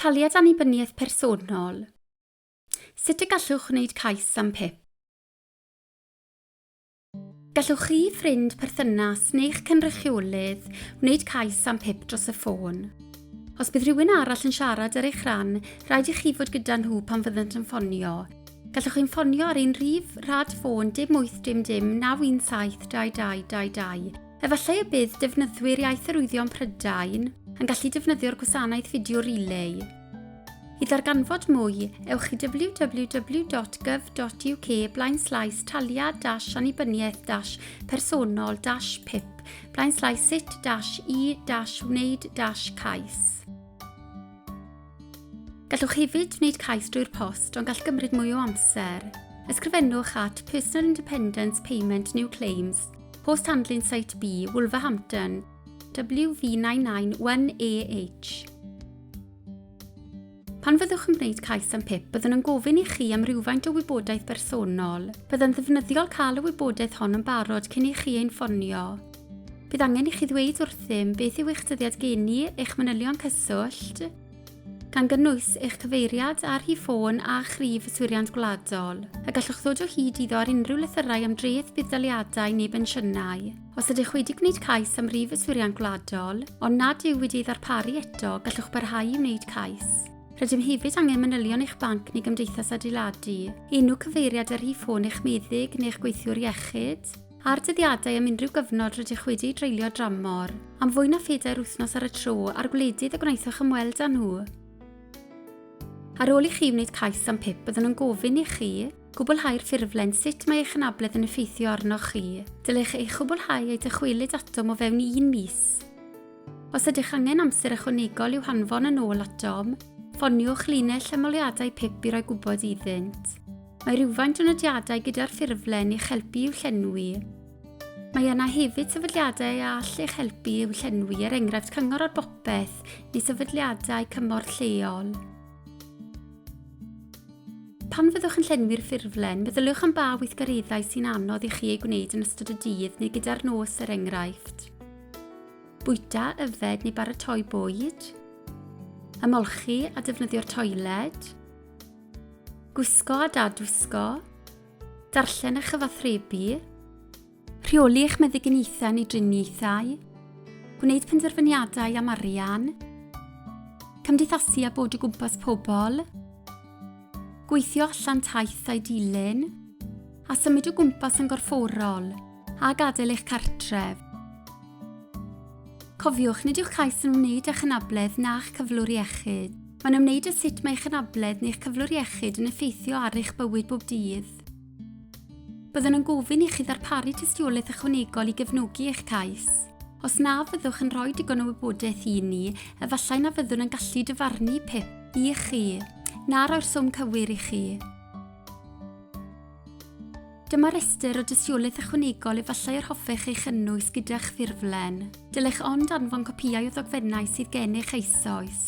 Taliad Annibyniaeth Personol Sut y gallwch wneud cais am PIP? Gallwch chi, ffrind, perthynas neu'ch cynrychiolydd wneud cais am PIP dros y ffôn. Os bydd rhywun arall yn siarad ar eich rhan, rhaid i chi fod gyda nhw pan fyddant yn ffonio. Gallwch chi'n ffonio ar ein rhif rhad ffôn dim wyth dim dim naw un saith dau dau dau dau. Efallai y bydd defnyddwyr Iaith Arwyddion Prydain yn gallu defnyddio'r gwasanaeth fideo relay. I ddarganfod mwy, ewch i www.gov.uk blaen slaes taliad dash annibyniaeth dash personol dash pip blaen slaes sut dash i dash wneud dash cais. Gallwch hefyd wneud cais drwy'r post ond gall gymryd mwy o amser. Ysgrifennwch at Personal Independence Payment New Claims, Post Handling Site B, Wolverhampton, WV991AH. Pan fyddwch yn gwneud cais am PIP, byddwn yn gofyn i chi am rhywfaint o wybodaeth bersonol. Byddai'n ddefnyddiol cael y wybodaeth hon yn barod cyn i chi ein ffonio. Bydd angen i chi ddweud wrthym beth yw eich dyddiad geni, eich manylion cyswllt, gan gynnwys eich cyfeiriad ar hi ffôn a chrif y Swiriant Gwladol, a gallwch ddod o hyd iddo ar unrhyw lythyrau am dreth budd-daliadau neu bensiynau. Os ydych wedi gwneud cais am rif y Swiriant Gwladol, ond nad yw wedi ei ddarparu eto, gallwch barhau i wneud cais. Rydym hefyd angen manylion eich banc neu gymdeithas adeiladu, enw cyfeiriad ar hi ffôn eich meddyg neu'ch gweithiwr iechyd, Ar dyddiadau am unrhyw gyfnod rydych wedi dreulio dramor am fwy na phedair wythnos ar y tro â'r gwledydd y gwnaethoch ymweld â nhw. Ar ôl i chi wneud cais am pip byddwn yn gofyn i chi gwblhau'r ffurflen sut mae eich anabledd yn effeithio arnoch chi. Dylech ei chwblhau a'i dychwelyd atom o fewn un mis. Os ydych angen amser ychwanegol i'w hanfon yn ôl atom, ffoniwch linell ymholiadau pip i roi gwybod iddynt. Mae rhywfaint o nodiadau gyda'r ffurflen i'ch helpu i'w llenwi. Mae yna hefyd sefydliadau a all eich helpu i'w llenwi, er enghraifft Cyngor ar Bopeth neu sefydliadau cymorth lleol. Pan fyddwch yn llenwi'r ffurflen, meddyliwch am ba weithgareddau sy'n anodd i chi eu gwneud yn ystod y dydd neu gyda'r nos er enghraifft. Bwyta, yfed neu baratoi bwyd. Ymolchi a defnyddio'r toiled. Gwisgo a dadwisgo. Darllen a chyfathrebu. Rheoli eich meddyginiaethau neu driniaethau. Gwneud penderfyniadau am arian. Cymdeithasu a bod o gwmpas pobl. Gweithio allan taith a'i dilyn. A symud o gwmpas yn gorfforol a gadael eich cartref. Cofiwch, nid yw'ch cais yn wneud â'ch anabledd na'ch cyflwr iechyd. Mae'n ymwneud â sut mae eich anabledd neu'ch cyflwr iechyd yn effeithio ar eich bywyd bob dydd. Byddwn yn gofyn i chi ddarparu tystiolaeth ychwanegol i gefnogi eich cais. Os na fyddwch yn rhoi digon o wybodaeth i ni, efallai na fyddwn yn gallu dyfarnu PIP i chi, na roi'r swm cywir i chi. Dyma restr o dystiolaeth ychwanegol efallai yr hoffech ei chynnwys gyda'ch ffurflen. Dylech ond anfon copïau o ddogfennau sydd gennych eisoes.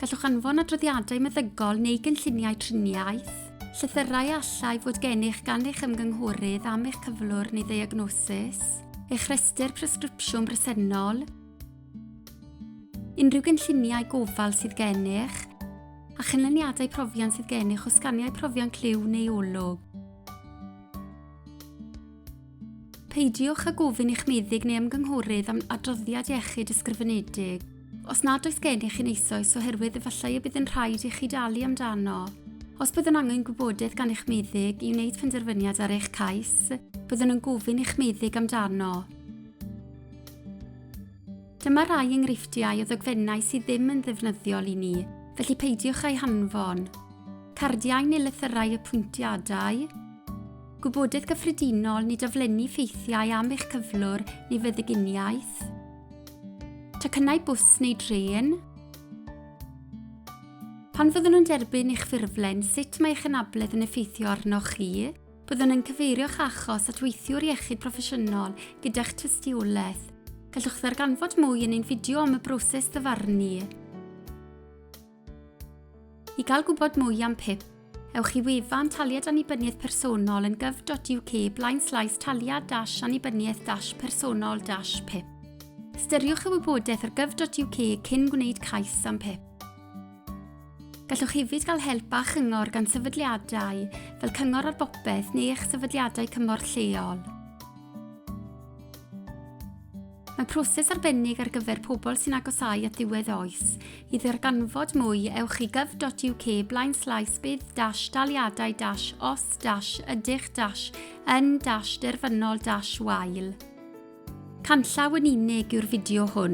Gallwch anfon adroddiadau meddygol neu gynlluniau triniaeth, llythyrau a allai fod gennych gan eich ymgynghorydd am eich cyflwr neu ddiagnosis, eich rhestr presgripsiwn bresennol, Unrhyw gynlluniau gofal sydd gennych a chynlyniadau profion sydd gennych o sganiau profion clyw neu olwg. Peidiwch â gofyn i'ch meddyg neu ymgynghorydd am adroddiad iechyd ysgrifenedig os nad oes gennych un eisoes oherwydd efallai y bydd yn rhaid i chi dalu amdano. Os byddwn angen gwybodaeth gan eich meddyg i wneud penderfyniad ar eich cais, byddwn yn gofyn i'ch meddyg amdano. Dyma rai enghreifftiau o ddogfennau sydd ddim yn ddefnyddiol i ni, felly peidiwch â'i hanfon. Cardiau neu lythyrau apwyntiadau. Gwybodaeth gyffredinol, nid aflenni ffeithiau am eich cyflwr neu feddyginiaeth. Tocynnau bws neu drên. Pan fyddwn nhw'n derbyn eich ffurflen, sut mae eich anabledd yn effeithio arnoch chi? Byddwn yn cyfeirio'ch achos at weithiwr iechyd proffesiynol gyda'ch tystiolaeth. Gallwch ddarganfod mwy yn ein fideo am y broses ddyfarnu. I gael gwybod mwy am PIP, ewch i wefan Taliad Annibyniaeth Personol yn gov.uk blaen slais taliad dash annibyniaeth dash personol dash PIP. Styriwch y wybodaeth ar gov.uk cyn gwneud cais am PIP. Gallwch hefyd gael help a chyngor gan sefydliadau fel Cyngor ar Bopeth neu eich sefydliadau cymorth lleol. Mae proses arbennig ar gyfer pobl sy'n agosau at ddiwedd oes. I ddarganfod mwy, ewch i gov.uk blaen slais bydd dash daliadau dash os dash ydych dash yn dash derfynol dash wael. Canllaw yn unig yw'r fideo hwn.